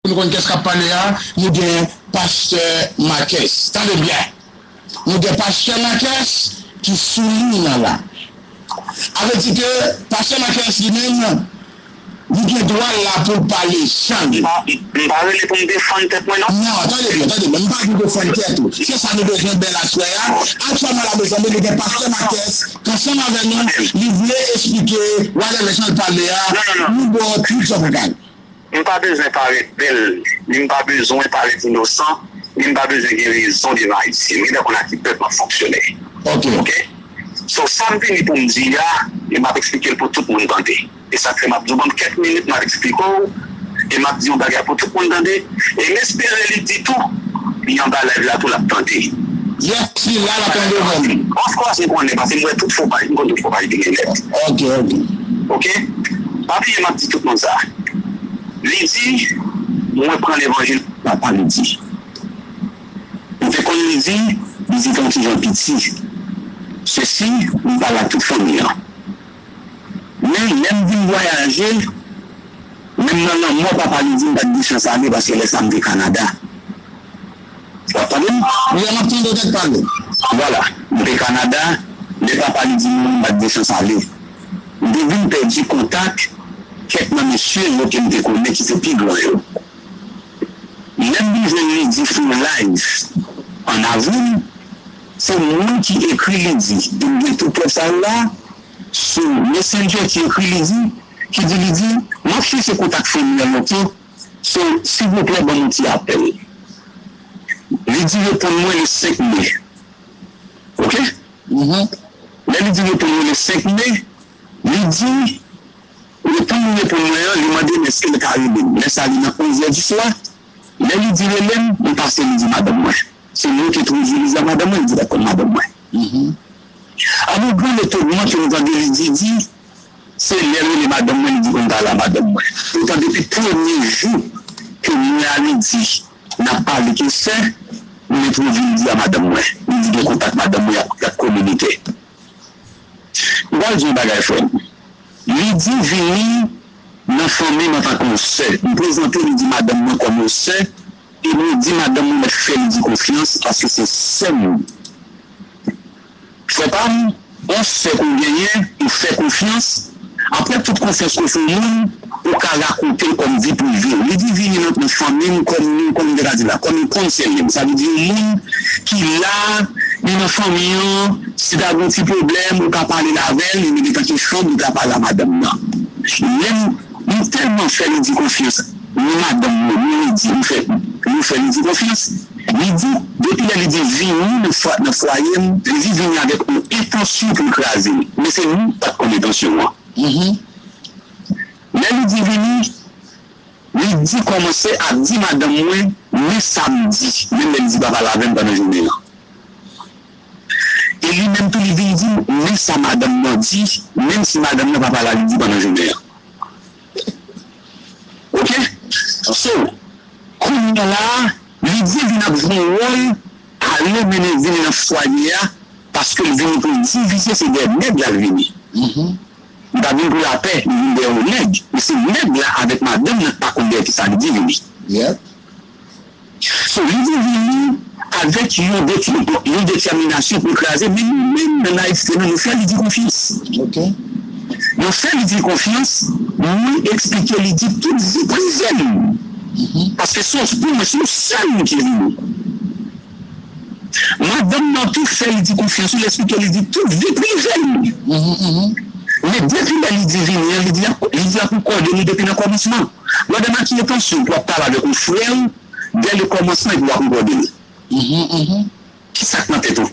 Pou nou konn kès kap pale a, nou gen pastè Makès. Tande byen! Nou gen pastè Makès ki sou liy nan la. A vle di ke pastè Makès li menm, li gen dwa l la pou l pale jan li. M pa rele pou m defann tèt mwen non. Non, tande byen, tande byen. M pa di defann tèt ou. Se sa nou bezwen bèl aswè a. Aktyèlman la mezanmi, nou gen pastè Makès k ansanm avè nou, li vle esplike whatever jan l pale a, nou bo Twit Jovregal. M pa bezwen parèt bèl, ni m pa bezwen parèt inosan, ni m pa bezwen gen rezon devan Ayisyen. M gen tan konn a ki pèp m ap fonksyone. Ok. So, sa m vini pou m di a, e m ap eksplike l pou tout moun tande. E sa k fè m ap di w ban m kèk minit m ap eksplike w, e m ap di w bagay a pou tout moun tande. E m espere li di tou, li anba layv la tou l ap tande. Yep, si l la, l ap tande menm. Ofkòs m konnen, paske m wè tout fo paj, m konn tout fo paj ki gen nèt. Ok, ok. Ok? Pa bliye map di tout moun sa. Li di mwen pran levanjil pou papa li di. M te konn li di li di ton kijan piti se si m pale ak tout fanmi an. Men lèm vin vwayaje menm nan lanmò papa li di m pat gen chans ale paske lè sa m te Canada. Wap tande m? Wi a map tande w dèk pale. Vwala, m te Kanada lè papa li di mwen m bat distans ale. M te vin pèdi kontak kèk nan mesye yo ke m te konnen ki te pi gran yo. Lè m vin jwenn Lydie Flo live an avril, se mwen ki ekri Lydie e m gen tout prèv sa yo la, sou Messenger ki ekri Lydie, ki di Lydie, map chèche kontak fanmi an lontan So silvouplè ban nou ti apèl. Li di reponn mwen le 5 mai ok lè li di reponn mwen le 5 mai li di reponn li reponn mwen an li mande m eske l ka rele m lè sa li nan 11 è di swa lè li di rele m li pase li di madanm mwen se mwen ki entwodui li di a madanm mwen li di l ap konn madanm mwen an nou pran le togman ke m tande li di di Se lè l rele madanm mwen li di konn pa la madanm mwen. Poutan depi premye jou ke mwen a li di n ap pale ke sè, m entwodui li di a madanm mwen. Li di gen kontak madanm mwen y ap kominike. M pral di yon bagay frè m. Li di vini nan fanmi m an tanke yon sè. M prezante li di madanm mwen kòm yon sè e mwen di madanm mwen mèt fè li di konfyans paske se sè m. Frè pam, on sè ke w genyen, ou fè konfyans, aprè tout konfyans ke w fè yon moun, ou ka rakonte l kòm vi prive w. Li di vini nan nan fanmi m kòm yon, kòm m te ka di la, kòm yon konseye m. Sa vle di yon moun ki la, li nan fanmi an, si ta gen yon ti pwoblèm, ou ka pale l avè l, li mete tanke chanm, li ka pale a madanm nan. Lè m. M tèlman fè Lidi konfyans ni madanm mwen ni Lidi m fè nou fè Lidi konfyans Lidi depi lè Lidi vini nan fwaye m Lidi vini avèk yon entansyon pou l kraze m men se nou pat konn entansyon an lè Lidi vini Lidi kòmanse ap di madanm mwen men sa m di menm lè Lidi pa pale avè m pandan jounen an. e li menm tou li vin di m men sa madanm nan di menm si madanm nan pa pala li di pandan jounen an ok so kounya la li di vin ap jwe wòl ale mennen vin nan fwaye a paske l vini pou l divize se dèyè nèg la l vini li pa vin pou lapè li vin dèyè yon nèg men se nèg la avèk madanm nan k pa konn dèyè kisa li di vini. Sou li vini nou avèk yon deklèman, yon detèminasyon pou l kraze, men nou menm nan nayivte nou, nou fè Lidi konfyans. Nou fè Lidi konfyans, mwen eksplike Lidi tout vi prive m, paske sòs pou mwen se yon sèl moun ki vini. Madanm nan tou fè li di konfyans wi, l esplike li di tout vi prive l wi, men depi lè li di vini an li di li ap rekòde li depi nan kòmansman, Blòdè Makiye tansyon pou ap pale avèk yon frè w dè le kòmansman epi w ap rekòde l kisa k nan tèt ou,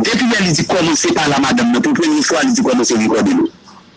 depi lè li di kòmanse pale a madanm nan pou premye fwa li di kòmanse rekòde l.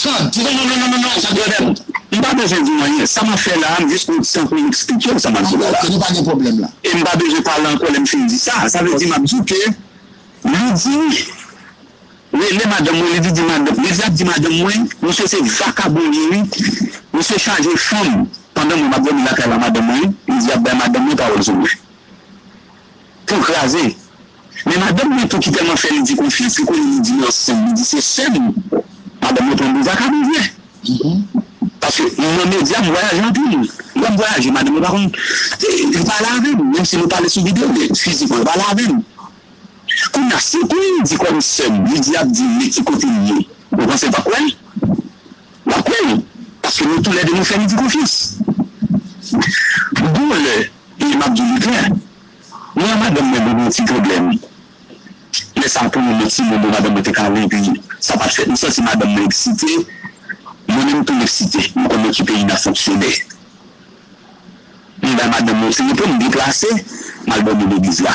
Ton, ti Bòbò, non, non, non, non, Jean-Claudel, m pa bezwen di w anyen. Sa m ap fè la a, m jis pran ti tan pou m eksplike w sa m ap di w la. Dakò, ke nou pa gen pwoblèm la. E m pa bezwen pale ankò lè m fin di sa a. Sa vle di m ap di w ke Lydie rele madanm mwen, Lydie di madanm, Lydie ap di madanm mwen, misye se vakabon l ye wi. Misye chaje fanm. Pandan mwen m ap dòmi lakay la madanm mwen, Lydie ap bay madanm mwen pawòl sou mwen. Tou kraze. Men madanm mwen tou ki tèlman fè Lidi konfyans li konnen Lidi nan san, li di se sè m. Madanm mwen pran bouzaka pou vrè. Paske m nan medya, m vwayaje anpil. Lè m vwayaje, madanm mwen pa konn, li pa ale avè m. Menm si nou pale sou videyo, men fizikman li pa ale avè m. Kounye a, si m pran Lidi kòm sè m, Lidi ap di m ki kote m ye, ou panse l p ap kwè l? L ap kwè l. Paske nou toulède nou fè Lidi konfyans. Gon lè. E map di li klè, mwen ak madanm mwen nou gen yon ti pwoblèm, lè sa pou yon lòt ti moun yo madanm mwen te kale epi sa pat fèt, m santi madanm mwen eksite, mwen menm tou m eksite, m konn nan ki peyi nap fonksyone. M bay madanm mwen yon ti repo, m deplase, m al dòmi legliz la.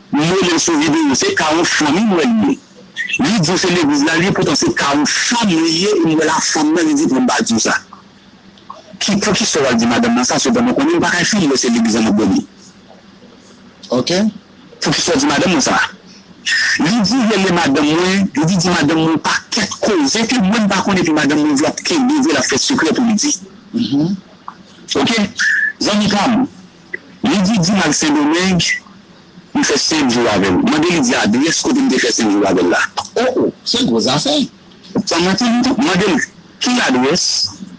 Li relel sou video se kawon fanm wi m wè li ye li diw se legliz la li ye poutan se kawon fanm li ye m wè la fanm nan li di fanm pa diw sa ki poukisa wal di madanm nan sa sepandan konnen m pakay fèl lè se legliz la map dòmi ok poukisa w di madanm nan sa li di rele madanm mwen li di di madanm mwen pakèt koze ke mwen m pa konnen epi madanm mwen di lap kenbe vre lap fè sekrè poul di ok zanmi pam Li di di m al Sendomeng pou l fè senk jou avè l. Mande li di adrès kote m te fè senk jou avè l la. O o! Se gwo zafè! San manti li tou, mande l ki ladrès,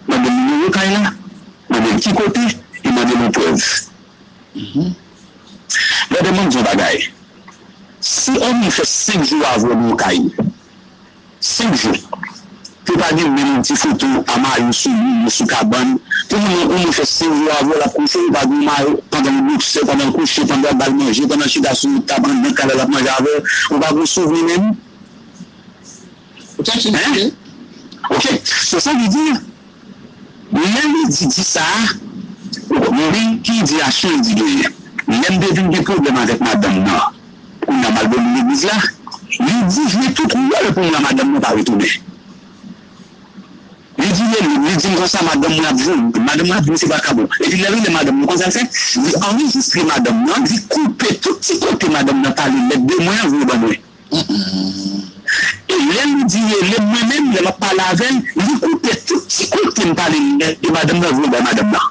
mande l nimewo kay la, mande l ki kote e mande l yon prèv. Brother, map di w yon bagay, si on moun fè senk jou avè w nan yon kay, 5 jou ke pa gen menm yon ti foto a mayo sou li ni sou kabann pou moun nan konn fè 5 jou avèl ap kouche li pa gen yon mayo pandan li bokse pandan l kouche pandan yap bal manje pandan l chita sou yon tab anndan kay la lap manje avèl ou pa gen yon souvni menm hein ok so sa vle di lè li di di sa ou konprann li ki di aksyon li di genyen lèm te vin gen pwoblèm avèk madanm nan. Kounya malgre li legliz la, li di jwe tout wòl pou mwen madanm mwen pa retounen. Li di lelem, li dim konsa madanm mwen ap vini, madanm mwen ap vini se vakabon. Epi lè li lè madanm li konn sal fè, li anrejistre madanm nan, li koupe tout ti kote madanm nan pale lèd de mwen an voye ban mwen. E lè li di relem mwen menm lè map pale avèl, li koupe tout ti kote mpale lèd de madanm nan voye bay madanm nan.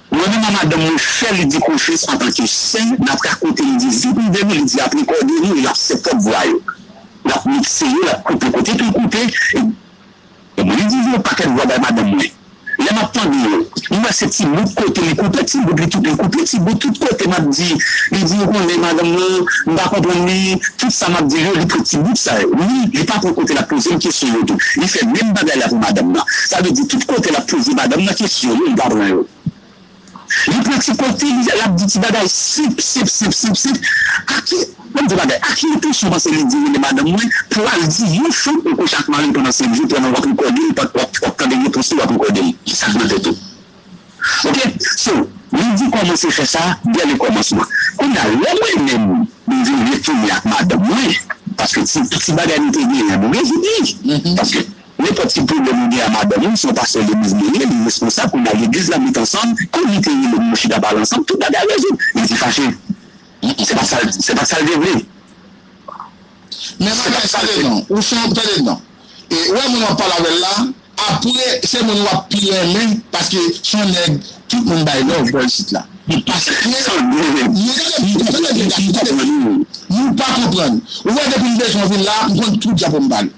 Mwen menm a madanm mwen fè li di konfyans antanke sè nap rakonte li di vide de nou li di ap rekòde nou e lap fè pwòp vwa yo lap mikse yo lap koupe kote poul koupe e mwen di li yon pakèt vwa bay madanm mwen lè map tande yo m wè se ti bout kote li koupe ti bout li li koupe ti bout tout kote map di li di ou konnen madanm lan m pa konprann li tout sa map dil yo li pran ti bout sa yo wi li pa pran kote lap pozem kesyon yo tou li fè menm bagay la pou madanm nan. Sa vle di tout kote lap poze madam nan kesyon yo li pa pran yo. Li pran ti kote li lap di ti bagay sip sip sip sip sip a ki banm di yon bagay a ki entensyon ou panse li di rele madanm mwen pou al di yon fanm ou kouche ak maril pandan se vi pandan wap rekodel pand wap tande repons li wap rekodel kisa ki nan tèt ou ok so li di kòmanse fè sa dè le kòmansman kounya lè mwen menm m vin retounen ak madanm mwen paske ti ti bagay nou te genyen nou revini paske. Nenpòt ki pwoblèm ou gen a madanm ou, se w pastè legliz li ye, li responsab, konnya legliz la met ansanm, kòm li te ye lè nou chita pale ansanm, tout bagay rezoud. Li te fache. Se pa sa l, se pa t sa l te vle. Men bagay sa de non. Ou son, tande non. E, ou wè moun w ap pale avè l la, apre se moun w ap pi renmen paske s on nèg tout moun bay love bò isit la. Li pa sèten sangle. Men tande byen, tande byen gason, tande byen. Nou pa konprann. Ou wè depi m bezwen vin la, m konn tout diapò m pale.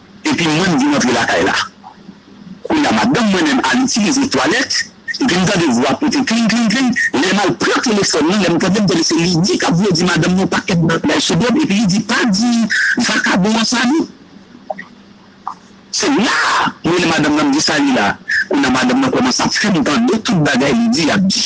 epi mwen m vin antre lakay la. Kounye a madanm mwen menm al itilize twalèt epi m tande vwa pote kling kling kling, lè m al pran telefòn lan lè m tande m tande se Lydie k ap vle di madanm nan yon pakèt bagay sou do m epi li di pa di vakabon an sa non. Se la a m rele madanm nan m di sa li la. Kounye a madanm nan kòmanse ap fè m tande tout bagay Lydie ap di.